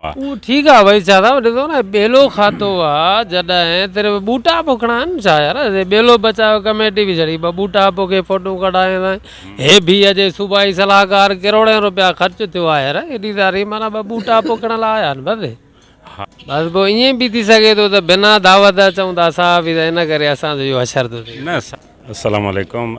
اهو ٺيڪ آ وئي ڇا ٿا ڏسو نه ٻيلو کاتو آ جڏهن تري ٻوٽا پوکڻا آهن ڇا يار ٻيلو بچايو ڪميٽي به جھڙي ٻه ٻوٽا پوکي فوٽو ڪڍائي سائين هي ڀي اڄي صوبائي صلاحڪار ڪروڙين روپيا خرچ ٿيو آ يار ايڏي ساري معنيٰ ٻه ٻوٽا پوکڻ لاء آيا آهن بس بس پوء ائين به ٿي سگهي ٿو ته بنا دعوت اچون ٿا اصا به ته ان ڪري اسان جو اهو حشر ٿو ٿئي نه السلام عليڪم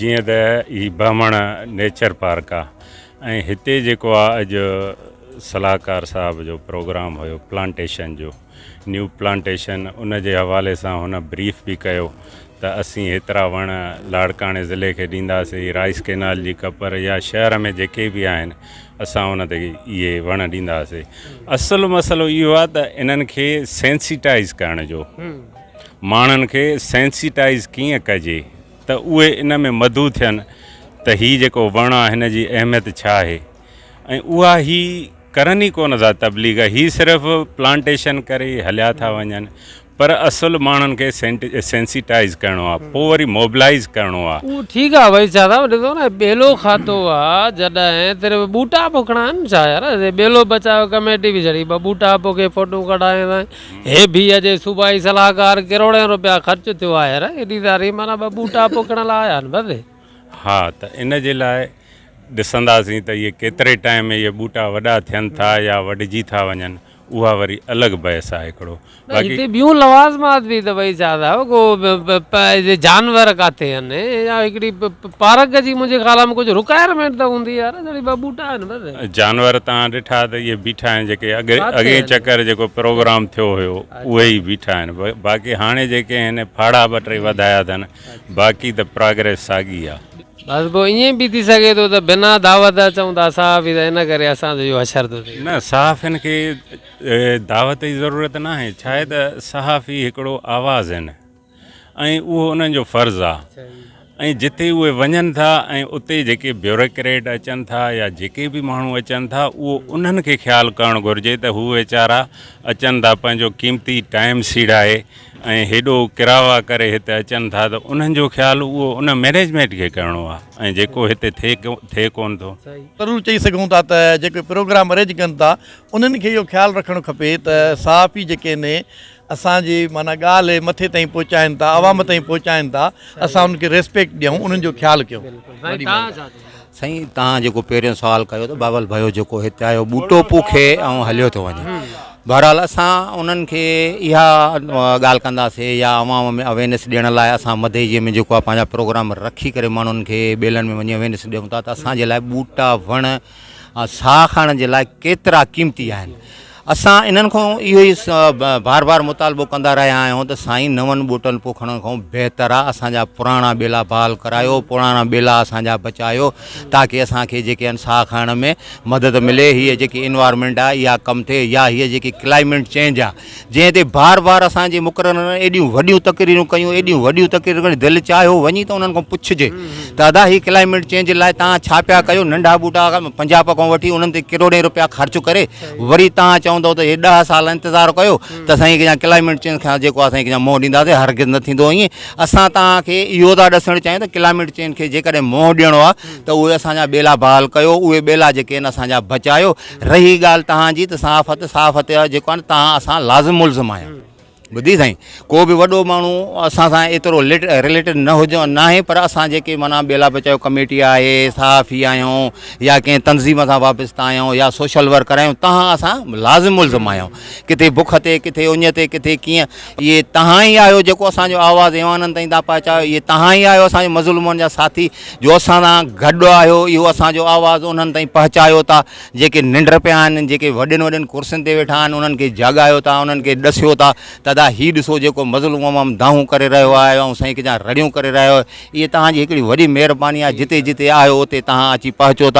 جيئن ته هي بهمڻ نيچر پارڪ آ ۽ هتي جيڪو آ اڄ صلاحڪار صاحب جو پروگرام هيو پلانٽيشن جو نيو پلانٽيشن ان جي حوالي سان هن بريف به ڪيو ته اسين هيترا وڻ لاڙڪاڻي ضلعي کي ڏينداسين رائس ڪينال جي ڪپر يا شهر ۾ جيڪي به آهن اسان ان تي اهي وڻ ڏينداسين اصل مسئلو اهو آ ته انهن کي سينسيٽائز ڪرڻ جو ماڻهن کي سينسيٽائز ڪيئن ڪجي ته اهي ان ۾ مدعو ٿين ته هي جيڪو وڻ آ هن جي اهميت ڇا آهي ۽ اها هي ڪرن ئي ڪونه ٿا تبليغ هي صرف پلانٽيشن ڪري هليا ٿا وڃن پر اصل ماڻهن کي سينسيٽائز ڪرڻو آ پو وري موبلائز ڪرڻو آ. اهو ٺيڪ آ ڀائي ڇا ٿا ڏسو نه ٻيلو کاتو آ جڏهن صرف ٻوٽا پوکڻا آهن ڇا يار ٻيلو بچايو ڪميٽي به جھڙي ٻه ٻوٽا پوکي فوٽو ڪڍائي اي بي اي جي صوبائي صلاحڪار ڪروڙين روپيا خرچ ٿيو آهي يار ايڏي ساري معنيٰ ٻه ٻوٽا پوکڻ لاء آيا آهن بس. ها ته ان جي لاء ڏسنداسين ته اهي ڪيتري ٽائيم ۾ اهي ٻوٽا وڏا ٿين ٿا يا وڍجي ٿا وڃن اها وري الڳ بحث آهي هڪڙو نه باقي هتي ٻيون لوازمات به اٿئي شاهه صاحب ڪو جانور ڪاٿي آهن يا هڪڙي پارڪ جي منهنجي خيال ۾ ڪجهه رڪائرمينٽ ته هوندي يار جهڙي ٻه ٻوٽا آهن بس. جانور توهان ڏٺا ته اهي بيٺا آهن جيڪي اڳ اڳئين چڪر جيڪو پروگرام ٿيو هيو اهي ئي بيٺا آهن باقي هاڻي جيڪي هن ڦاڙها ٻه ٽي وڌايا اٿن باقي ته پراگريس ساڳي آ. بس پوء ائين به ٿي سگهي ٿو ته بنا دعوت اچون ٿا صحافي ته ان ڪري اسان جو اهو حشر ٿو ٿئي. نه صحافين کي دعوت جي ضرورت ناهي ڇاهي ته صحافي هڪڙو آواز آهن. ۽ اهو انهن جو فرض آ ۽ جتي اهي وڃن ٿا ۽ اتي جيڪي بيوريڪريٽ اچن ٿا يا جيڪي به ماڻهو اچن ٿا اهو انهن کي خيال ڪرڻ گهرجي ته هو ويچارا اچن ٿا پنهنجو قيمتي ٽائيم سيڙائي ۽ هيڏو ڪراوا ڪري هتي اچن ٿا ته انهن جو خيال اهو ان مئنيجمينٽ کي ڪرڻو آ ۽ جيڪو هتي ٿئي ٿئي ڪون ٿو. ضرور چئي سگهون ٿا ته جيڪي پروگرام ارينج ڪن ٿا انهن کي اهو خيال رکڻ کپي ته صحافي جيڪي ني اسان جي معنيٰ ڳالهه مٿي تائين پهچائين ٿا عوام تائين پهچائين ٿا اسان انهن کي ريسپيڪٽ ڏيون انهن جو خيال ڪيون. سائين تهان جيڪو پهريون سوال ڪيو ته بابل ڀيو جيڪو هتي آيو ٻوٽو پوکي ۽ هليو ٿو وڃي بهرحال اسان انهن کي اها ڳالهه ڪنداسين يا عوام ۾ اويرنيس ڏيڻ لاء اسان مديجي ۾ جيڪو آهي پنهنجا پروگرام رکي ڪري ماڻهن کي ٻيلن ۾ وڃي اويرنيس ڏيون ٿا ته اسان جي لاء ٻوٽا وڻ ۽ ساهه کڻڻ جي لاء ڪيترا قيمتي آهن. اسان انهن کان اهو ئي بار بار مطالبو ڪندا رهيا آهيون ته سائين نون ٻوٽن پوکڻ کان بهتر آهي اسان جا پراڻا ٻيلا بحال ڪرايو پراڻا ٻيلا اسان جا بچايو تاڪه اسان کي جيڪي آهن ساهه کڻڻ ۾ مدد ملي هيء جيڪي انوائرمينٽ آهي اها ڪم ٿئي يا هيء جيڪي ڪلائمينٽ چينج آهي جنهن تي بار بار اسان جي مقررن ايڏيون وڏيون تقريرون ڪيون ايڏيون وڏيون تقريرون ڪيون دل چاهي هو وڃي ته انهن کان پڇجي ته ادا هي ڪلائميٽ چينج لاء تان ڇا پيا ڪيو ننڍا ٻوٽا پنجاب کان وٺي انهن تي ڪروڙين روپيا خرچ ڪري وري تان چوندو ته هي ڏهه سال انتظار ڪيو ته سائين ڪيا ڪلائميٽ چينج کان جيڪو آهي سائين ڪيا منهن ڏينداسين هرگز نه ٿيندو ائين اسان تان کي اهو ٿا ڏسڻ چاهيون ته ڪلائميٽ چينج کي جيڪڏهن منهن ڏيڻو آهي ته اهي اسان جا ٻيلا بحال ڪيو اهي ٻيلا جيڪي آهن اسان جا بچايو رهي ڳالهه توهان جي ته صحافت صحافت جو جيڪو آهي توهان اسان لازم ملزم آهيو ٻڌي سائين ڪو به وڏو ماڻهو اسان سان ايترو رليٽيڊ نه هجو نه آهي پر اسان جيڪي مانا ٻيلا بچايو ڪميٽي آهي صحافي آهيون يا ڪنهن تنظيم سان وابستا آهيون يا سوشل ورڪر آهيون توهان اسان لازم ملزم آهيون ڪٿي بک تي ڪٿي اڃ تي ڪٿي ڪيئن اهي توهان ئي آهيو جيڪو اسان جو آواز ايوانن تائين ٿا پهچايو اهي توهان ئي آهيو اسان جي مظلومن جا ساٿي جو اسان سان گڏ آهيو اهو اسان جو آواز انهن تائين پهچايو ٿا جيڪي ننڊ پيا آهن جيڪي وڏين وڏين ڪرسين تي ويٺا آهن انهن کي جاڳايو ٿا انهن کي ڏسيو ٿا ته ادا هي ڏسو جيڪو مظلوم عوام دانهون ڪري رهيو آهي ۽ سائين ڪجا رڙيون ڪري رهيو اهي توهان جي هڪڙي وڏي مهرباني آهي جتي جتي آهيو اتي توهان اچي پهچو ٿا